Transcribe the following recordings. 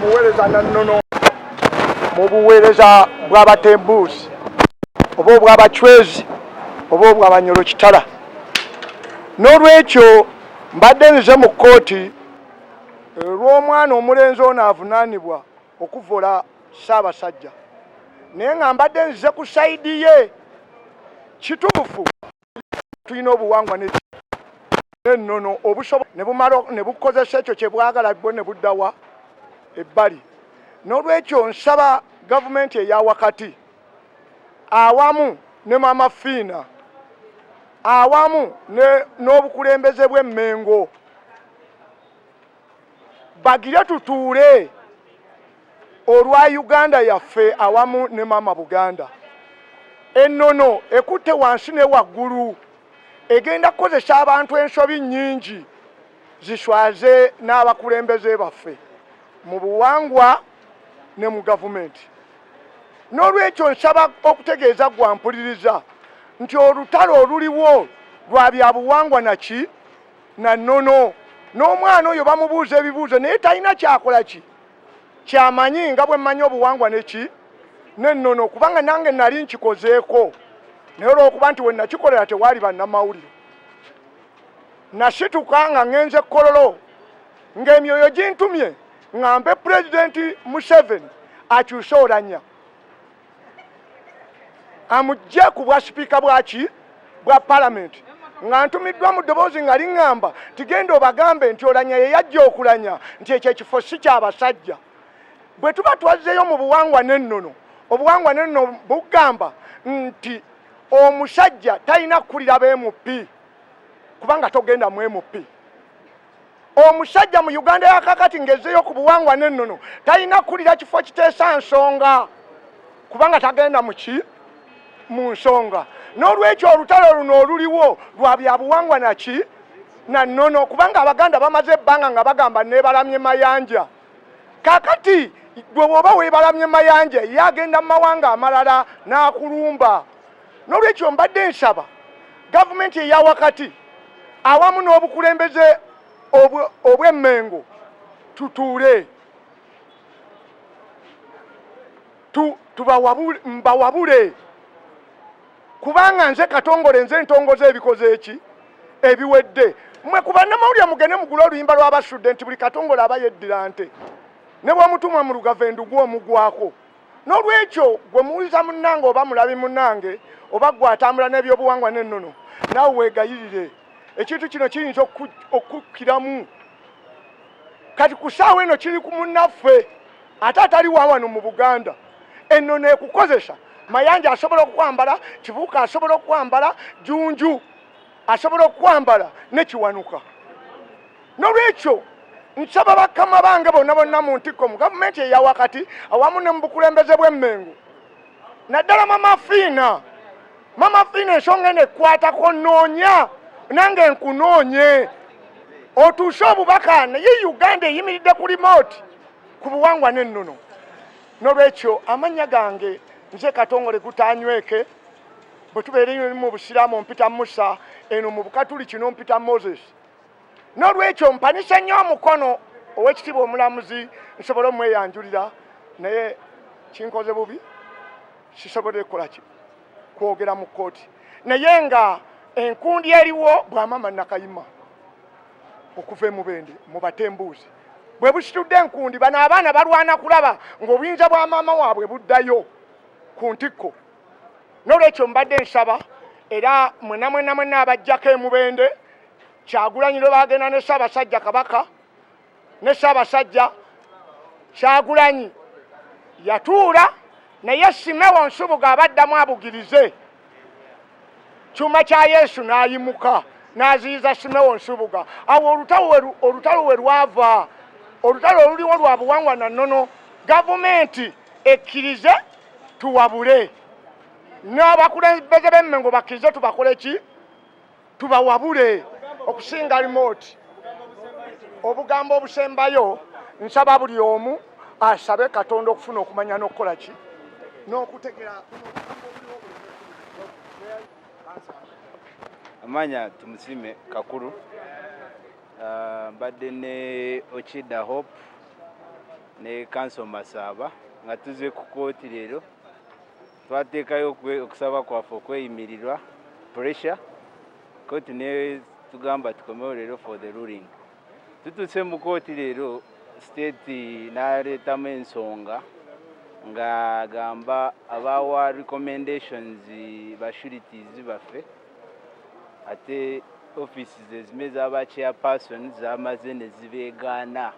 muweereza na nnono mu buweereza bw'abatembuusi oba obw'abacwezi oba obw'abanyolo kitala n'olwekyo mbadde nze mu kkooti eh, lw'omwana omulenzi ono avunaanibwa okuvvola Ssaabasajja naye nga mbadde nzize ku saidi ye kituufu tulina obuwangwa n'ennono obusobo ne bukozesa ekyo kye bwagala bwo ne buddawa ebbali n'olwekyo nsaba gavumenti eya wakati awamu ne mama fiina awamu n'obukulembeze bw'emmengo bagire tutuule olwa Uganda yaffe awamu ne maama Buganda. Ennono ekutte wansi ne waggulu egenda kukozesa abantu ensobi nnyingi ziswaze n'abakulembeze baffe mu buwangwa ne mu gavumenti. N'olwekyo nsaba okutegeeza gwa mpuliriza nti olutalo oluliwo lwa byabuwangwa naki na nono n'omwana oyo bamubuuza ebibuuzo naye talina kyakola ki kyamanyi nga bwe mmanyi obuwangwa neki nenono kubanga nange nali nkikozeeko naye olwokuba nti wenakikolera tewaali bannamawulire nasituka nga ngenze kololo ng'emyoyo gintumye ngambe pulezidenti museveni akyuse olanya amugye ku bwasipiika bwaki bwa palamenti nga ntumiddwa mu ddoboozi nga liŋŋamba tigenda obagambe nti olanya ye yajja okulanya nti ekyo ekifo si kyabasajja bwe tuba twazzeeyo mu buwangwa n'ennono obuwangwa n'ennono bugamba nti omusajja talina kukulira bmp kubanga togenda mu mp omusajja mu uganda yakakati ngaezeyo ku buwangwa nennono talina kukulira kifo kiteesa nsonga kubanga tagenda muki mu nsonga n'olwekyo olutalo luno oluliwo lwa byabuwangwa naki na nnono kubanga abaganda bamaze ebbanga nga bagamba nebalamye mayanja kakati gwe bwoba webalamye mayanja ye agenda mu mawanga amalala n'akulumba N'olwekyo mbadde nsaba gavumenti eya wakati awamu n'obukulembeze obw'emmengo tutuule mbawabule kubanga nze katongole nze ntongoza ebikoze eki ebiwedde mwe ku bannamawulire mugende mugule oluyimba lw'abasudde nti buli katongole aba yeddira nte ne bw'omutumwa mu lugave ndugu omugwako n'olwekyo gwe muwuliza munnange oba mulabi munnange oba gwe atambula n'ebyobuwangwa n'ennono naawe weegayirire ekintu kino kiyinza okukkiramu kati ku ssaawa eno kiri ku munnaffe ate atali wawano mu buganda ennono ekukozesa mayanja asobola okukwambala kibuuka asobola okukwambala junju asobola okukwambala nekiwanuka nolwekyo nsaba bakama bange bonna bonna mu ntikko mu gavumenti eyawakati awamu ne mu bukulembeze bw'emmengo naddala mama fiina mama fiina ensonga eno ekwatako noonya nange nkunoonye otuuse obubaka naye uganda eyimiridde ku limooti ku buwangwa n'ennono nolwekyo amannya gange nze katongole gutanyweke bwe tubeere mu busiraamu mpita musa eno mu bukatuli kino mpita moses n'olwekyo mpanise nnyo omukono ow'ekitiibwa omulamuzi nsobole omweyanjulira naye kinkoze bubi sisobodde kukola ki kwogera mu kkooti naye nga enkundi eriwo bwamama nakayima okuva emubende mubatembuuzi bwe busitudde enkundi bano abaana balwana kulaba ng'obuyinza bwa maama waabwe buddayo ku ntikko n'olwekyo mbadde nsaba era mwena mwena mwena abajjako emubende kyagulanyi lwe bagenda ne ssaabasajja kabaka ne ssaabasajja kyagulanyi yatuula naye simewo nsubuga abaddamu abugirize kyuma kya yesu n'ayimuka n'aziyiza simewo nsubuga awo olutalo we lwava olutalo oluliwo lwa buwangwa na nnono gavumenti ekkirize tuwabule n'abakulembeze b'emmengo bakkirize tubakole ki tubawabule okusinga limooti obugambo obusembayo nsaba buli omu asabe katonda okufuna okumanya n'okukola ki n'okutegera amanya tumusime kakulu ah, mbadde ne okida hope ne kanso masaaba nga tuze ku kooti leero Twateekayo okusaba kwaffe okweyimirirwa pressure kooti ne tugamba tukomewo leero for the ruling. Tutuuse mu kooti leero state naleetamu ensonga ng'agamba abaawa recommendations bashurities baffe ate offices ezime z'aba chairperson zamaze ne zibeegaana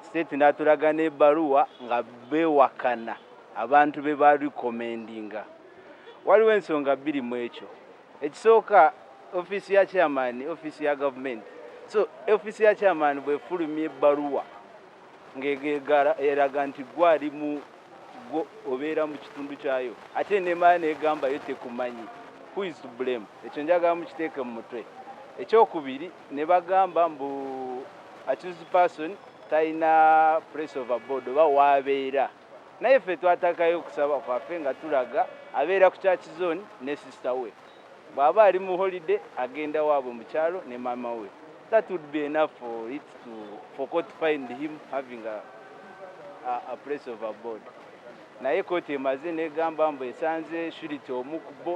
State natulaga n'ebaluwa nga bewakana abantu be ba recommendinga. Waliwo ensonga bbiri mu ekyo. Ekisooka ofiisi ya chairman, ofiisi ya gavumenti. So ofiisi ya chairman bwefulumya ebbaluwa ng'eraga nti gwe ali mu gwo obeera mu kitundu kyayo ate nemala negambayo tekumanyi who is to blame ekyo njagala mukiteeke mu mutwe ekyokubiri ne bagamba mbu accused person talina place of abode oba waabeera naye ffe twatakayo okusaba kwaffe nga tulaga abeera ku church zone ne sister we bw'aba ali mu holiday agenda waabwe mu kyalo ne maama we that would be enough for it to for court find him having a, a, a place of abode Naye kkooti emaze n'egamba mbu esanze Shirlite omu ku bo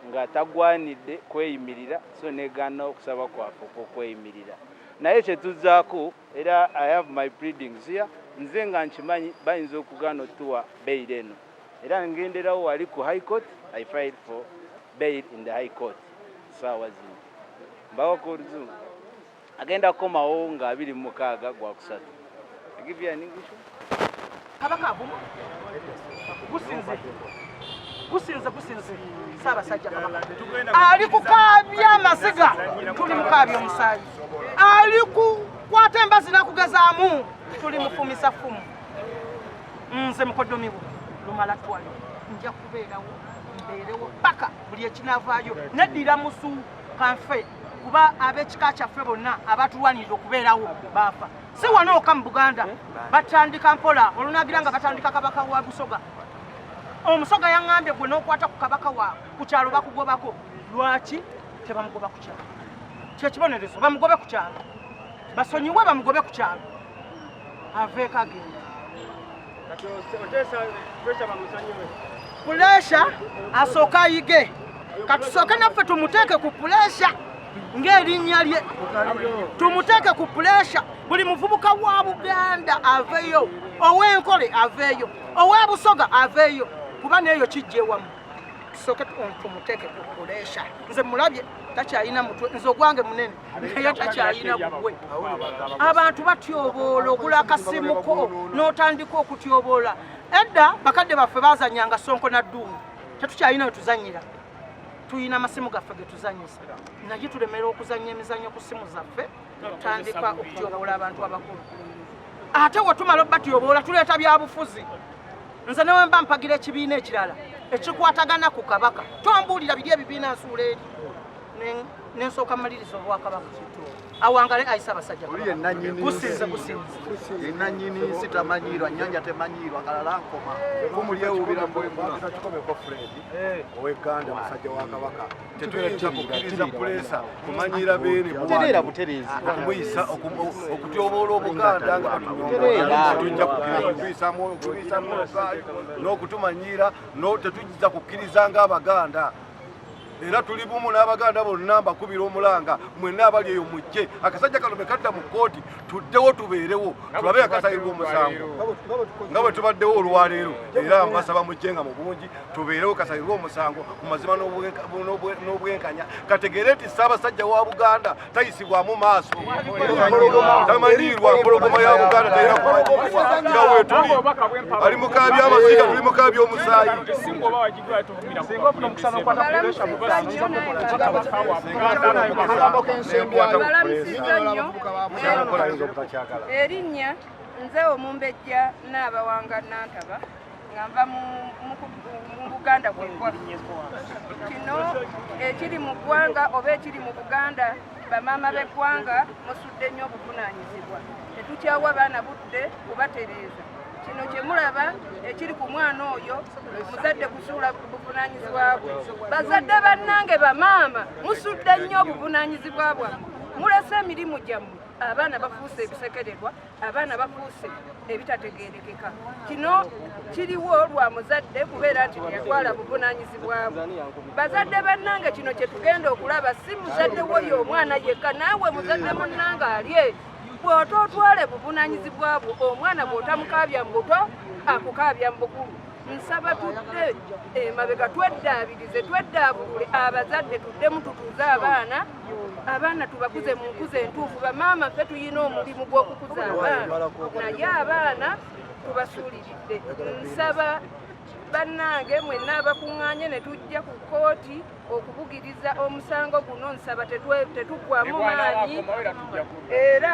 nga tagwanidde kweyimirira so n'egaana okusaba kwaffe okw'okweyimirira. Naye kye tuzzaako era I have my pleadings here, nze nga nkimanyi bayinza okugaana otuwa bail eno era ngenderawo wali ku High Court, I filed for bail in the High Court, ssaawa zino mbawako oluzungu. agenda kukomawo nga abiri mu mukaaga gwa kusatu kabaka avumu gusinze gusinze gusinze saabasajja kabaka ali kukaabya amaziga tuli mukaabya omusaayi ali kukwata embazi nakugezaamu tuli mufumisa fumu nze mukodomiwo lumala twali nja kubeerawo mbeerewo paka buli ekinavaayo neddira musu kanfe kuba ab'ekika kyaffe bonna abatulwanirira okubeerawo baafa si wano oka mu buganda batandika mpola olunagira nga batandika kabaka wa busoga omusoga yaŋambye gwe n'okwata ku kabaka wa ku kyalo bakugobako lwaki tebamugoba ku kyalo kyekibonerezo bamugobe ku kyalo basonyiwe bamugobe ku kyalo aveeko agenda puleesha asooke ayige katusooke naffe tumuteeke ku puleesha ng'erinnya lye tumuteeke ku puleesha buli muvubuka wa buganda aveeyo ow'enkole aveeyo ow'ebusoga aveeyo kuba neeyo kijja ewamu tusooke tumuteeke ku puleesha nze mulabye takyalina mutwe nze ogwange munene naye takyalina bugwe abantu batyoboola ogula akasimuko n'otandika okutyoboola edda bakadde baffe bazanyanga sonko na dduumu tetukyalina wetuzanyira tulina amasimu gaffe getuzanyisa naye tulemera okuzanya emizanyo ku simu zaffe notandika okutyoboola abantu abakulu ate wetumala obatyobola tuleeta byabufuzi nze newemba mpagira ekibiina ekirala ekikwatagana ku kabaka tombuulira biri ebibiina nsuula eri nensooka maliriza obwakabaka awangale ayisa abasajja gusinze gusinzeyenanyini nsi tamanyiirwa nyanja temanyiirwa kalala nkoma kumulyewubira mbwemukikomeko fred eh. oweganda musajja wa kabaka tetuyinza kukiriza kulesa kumanyiira beene butereera butereezi okumuyisa okutyoboola obuganda nga tujja kukirizakuyisamu okuyisamu n'okutumanyiira tetujja kukkiriza nga abaganda era tuli bumu n'abaganda bonna mbakubira omulanga mwenna abali eyo mujje akasajja kano mekadda mu kkooti tuddewo tubeerewo tulabe akasalirwa omusango nga bwe tubaddewo olwaleero era mbasaba mujje nga mu bungi tubeerewo kasalirwa omusango mu mazima n'obwenkanya kategeere nti ssaabasajja wa buganda tayisibwamu maaso tamanyiirwa mpologoma ya buganda tayina kumanyirwa nga wetuli ali mukaabya amaziga tuli mukaabya omusaayi erinnya nze omumbejja naabawanga nantaba nga nva mu buganda kwekwaffe kino ekiri mu ggwanga oba ekiri mu buganda bamaama b'eggwanga musudde nnyo obuvunaanyizibwa tetukyawa baana budde kubatereeza kino kyemulaba ekiri ku mwana oyo muzadde kusuula buvunaanyizibwa bwe bazadde bannange bamaama musudde nnyo obuvunaanyizibwa bwammwe mulese emirimu gyammwe abaana bafuuse ebisekererwa abaana bafuuse ebitategerekeka kino kiriwo lwa muzadde kubeera nti teyatwala buvunanyizibwabwe bazadde bannange kino kyetugenda okulaba si muzadde woyo omwana yekka naawe muzadde munnange alye bwota otwale buvunanyizibwa bwo omwana bwotamukaabya mu buto akukaabya mu bukulu nsaba tudde emabega tweddaabirize tweddaabulule abazadde tuddemu tutuuze abaana abaana tubakuze mu nkuza entuufu bamaama ffe tulina omulimu gw'okukuza abaana naye abaana tubasuuliridde nsaba bannange mwenna abakuŋŋaanye ne tujja ku kkooti okubugiriza omusango guno nsaba tetuggwamu maanyi era